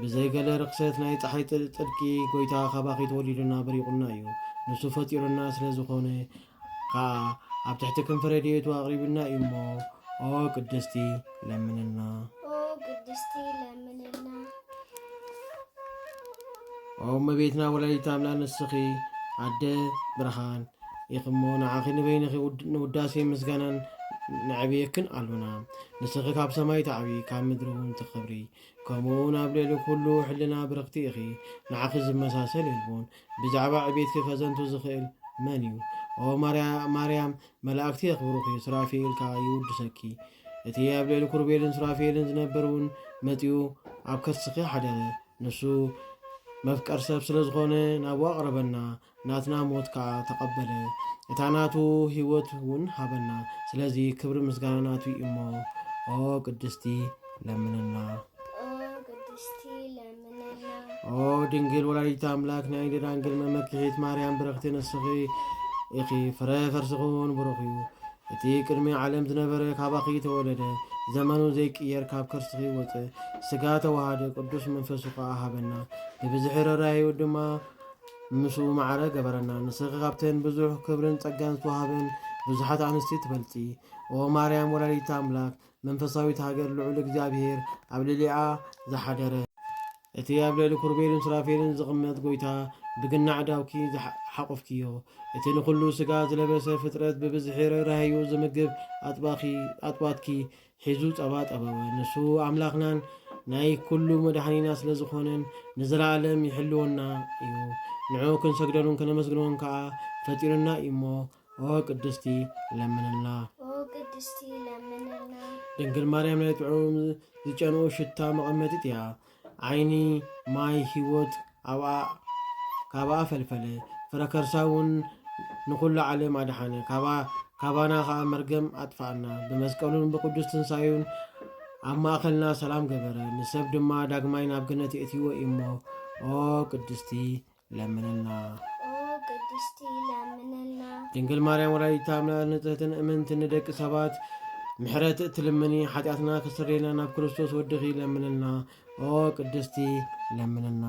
ብዘይ ገለ ርኽሰት ናይ ጸሓይ ጽድቂ ጎይታ ካባኺ ተወሊዱና በሪኹልና እዩ። ንሱ ፈጢሩና ስለ ዝኾነ ከኣ ኣብ ትሕቲ ክንፊ ረድኤቱ ኣቕሪቡና እዩ እሞ ኦ ቅድስቲ ለምንልና። ኦ ቅድስቲ ለምንልና። ኦ እመቤትና ወላዲተ ኣምላክ ንስኺ ኣደ ብርሃን ኢኺ እሞ ንዓኺ ንበይንኺ ንውዳሴ ምስጋናን ነዕብየክን ኣሎና። ንስኺ ካብ ሰማይ ትዓብዪ ካብ ምድሪ እውን ትኽብሪ፣ ከምኡ እውን ኣብ ልዕሊ ኩሉ ሕልና ብርኽቲ ኢኺ፣ ንዓኺ ዝመሳሰል የልቦን፣ ብዛዕባ ዕቤትኪ ከዘንቱ ዝኽእል መን እዩ? ኦ ማርያም፣ መላእክቲ የኽብሩኺ፣ ሱራፌኤል ከኣ ይውድሰኪ፣ እቲ ኣብ ልዕሊ ኩሩቤልን ሱራፌኤልን ዝነበር እውን መጺኡ ኣብ ከርስኺ ሓደረ፣ ንሱ መፍቀር ሰብ ስለ ዝኾነ ናብኡ ኣቕረበና፣ ናትና ሞት ከኣ ተቀበለ እታ ናቱ ሂወት ውን ሃበና ስለዚ ክብሪ ምስጋና ናቱ ዩ እሞ ኦ ቅድስቲ ለምንና። ኦ ድንግል ወላዲት ኣምላክ ናይ ደናግል መመኪሒት ማርያም ብርኽቲ ንስኺ ኢኺ ፍረ ከርስኹን ብሩኽ እዩ እቲ ቅድሚ ዓለም ዝነበረ ካባኺ ተወለደ ዘመኑ ዘይቅየር ካብ ከርስኺ ወፀ ስጋ ተዋሃደ ቅዱስ መንፈሱ ከዓ ሃበና ብብዝሒ ረራዩ ድማ ምስኡ ማዕረ ገበረና ንስኺ ካብተን ብዙሕ ክብርን ጸጋን ዝተዋህበን ብዙሓት ኣንስቲ ትበልጺ ኦ ማርያም ወላዲተ ኣምላክ መንፈሳዊት ሃገር ልዑል እግዚኣብሔር ኣብ ልዕሊኣ ዝሓደረ እቲ ኣብ ልዕሊ ኩርቤልን ሱራፌልን ዝቕመጥ ጎይታ ብግና ዕዳውኪ ሓቁፍኪዮ እቲ ንኹሉ ስጋ ዝለበሰ ፍጥረት ብብዝሒ ርህራሄኡ ዝምግብ ኣጥባኪ ኣጥባትኪ ሒዙ ጸባ ጠበወ። ንሱ ኣምላኽናን ናይ ኩሉ መድኃኒና ስለ ዝኾነን ንዘለዓለም ይሕልወና እዩ። ንዕኡ ክንሰግደሉን ከነመስግንዎን ከኣ ፈጢሩና እዩ እሞ ኦ ቅድስቲ ለምንልና። ኦ ቅድስቲ ለምንልና። ድንግል ማርያም ናይ ጥዑም ዝጨንኡ ሽታ መቐመጢት እያ። ዓይኒ ማይ ህይወት ኣብኣ ካባኣ ፈልፈለ፣ ፍረ ከርሳ እውን ንዅሉ ዓለም ኣድሓነ፣ ካባ ካባና ኸኣ መርገም ኣጥፍኣና። ብመስቀሉን ብቅዱስ ትንሳኤኡን ኣብ ማእከልና ሰላም ገበረ፣ ንሰብ ድማ ዳግማይ ናብ ገነት የእትይዎ እዩሞ። ኦ ቅድስቲ ለምንልና። ቅድስቲ ለምንልና ድንግል ማርያም ወላዲተ ኣምላክ ንጽህትን እምንት ንደቂ ሰባት ምሕረት እትልምኒ ሓጢኣትና ክስረየና ናብ ክርስቶስ ወድኺ ለምንልና። ኦ ቅድስቲ ለምንልና።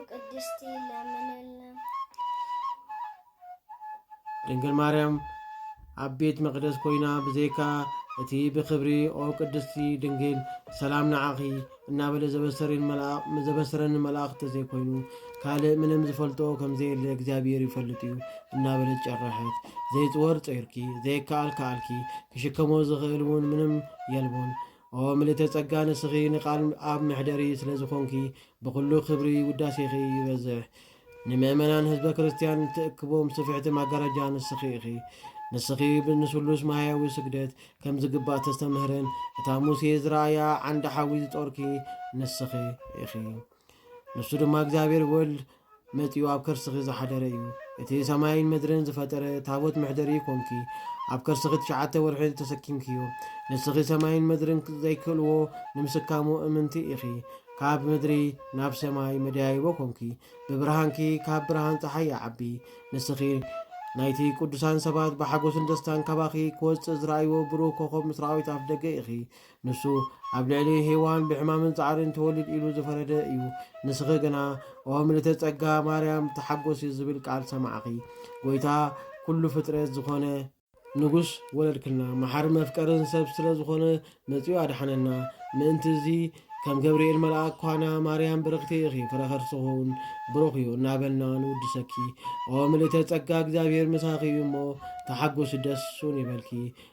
ቅድስቲ ለምንልና። ድንግል ማርያም ኣብ ቤት መቕደስ ኮይና ብዘይካ እቲ ብክብሪ ኦ ቅድስቲ ድንግል ሰላም ንዓኺ እናበለ ዘበሰረኒ መልኣኽ ተዘይኮይኑ ካልእ ምንም ዝፈልጦ ከምዘየለ እግዚኣብሔር ይፈልጥ እዩ እናበለት ጨረሐት። ዘይፅወር ፀይርኪ ዘይከኣል ከኣልኪ ክሽከሞ ዝኽእል እውን ምንም የልቦን። ኦ ምልእተ ጸጋ ንስኺ ንቃል ኣብ መሕደሪ ስለ ዝኾንኪ ብኹሉ ክብሪ ውዳሴኺ ይበዝሕ ንምእመናን ህዝበ ክርስትያን እትእክቦም ስፍሕቲ ማጋረጃ ንስኺ ኢኺ ንስኺ ንስሉስ ማህያዊ ስግደት ከም ዝግባእ ተስተምህርን እታ ሙሴ ዝረኣያ ዓንዲ ሓዊ ዝጦርኪ ንስኺ ኢኺ ንሱ ድማ እግዚኣብሔር ወልድ መጺኡ ኣብ ከርስኺ ዝሓደረ እዩ እቲ ሰማይን ምድርን ዝፈጠረ ታቦት መሕደሪ ኮንኪ ኣብ ከርስኺ ትሽዓተ ወርሒ ተሰኪምክዮ ንስኺ ሰማይን ምድርን ዘይክእልዎ ንምስካሙ እምንቲ ኢኺ ካብ ምድሪ ናብ ሰማይ መደያይቦ ኮንኪ ብብርሃንኪ ካብ ብርሃን ፀሓይ ይዓቢ ንስኺ ናይቲ ቅዱሳን ሰባት ብሓጎስን ደስታን ካባኺ ክወፅእ ዝረኣይዎ ብሩህ ኮኸብ ምስራዊት ኣፍ ደገ ኢኺ ንሱ ኣብ ልዕሊ ሄዋን ብሕማምን ጻዕርን ትወልድ ኢሉ ዝፈረደ እዩ። ንስኺ ግና ኦ ምልእተ ጸጋ ማርያም ተሓጎሲ ዝብል ቃል ሰማዕኺ። ጎይታ ኩሉ ፍጥረት ዝኾነ፣ ንጉስ ወለድክልና፣ መሓርን መፍቀርን ሰብ ስለ ዝኾነ መጺኡ ኣድሓነና። ምእንቲ እዚ ከም ገብርኤል መልኣክ ኳና ማርያም ብርኽቲ ኢኺ ፍረ ከርስኹን ብሩኽ እዩ እናበልና ንውድሰኪ። ኦ ምልእተ ጸጋ እግዚኣብሔር ምሳኺ እዩ እሞ ተሓጎሲ ደሱን ይበልኪ።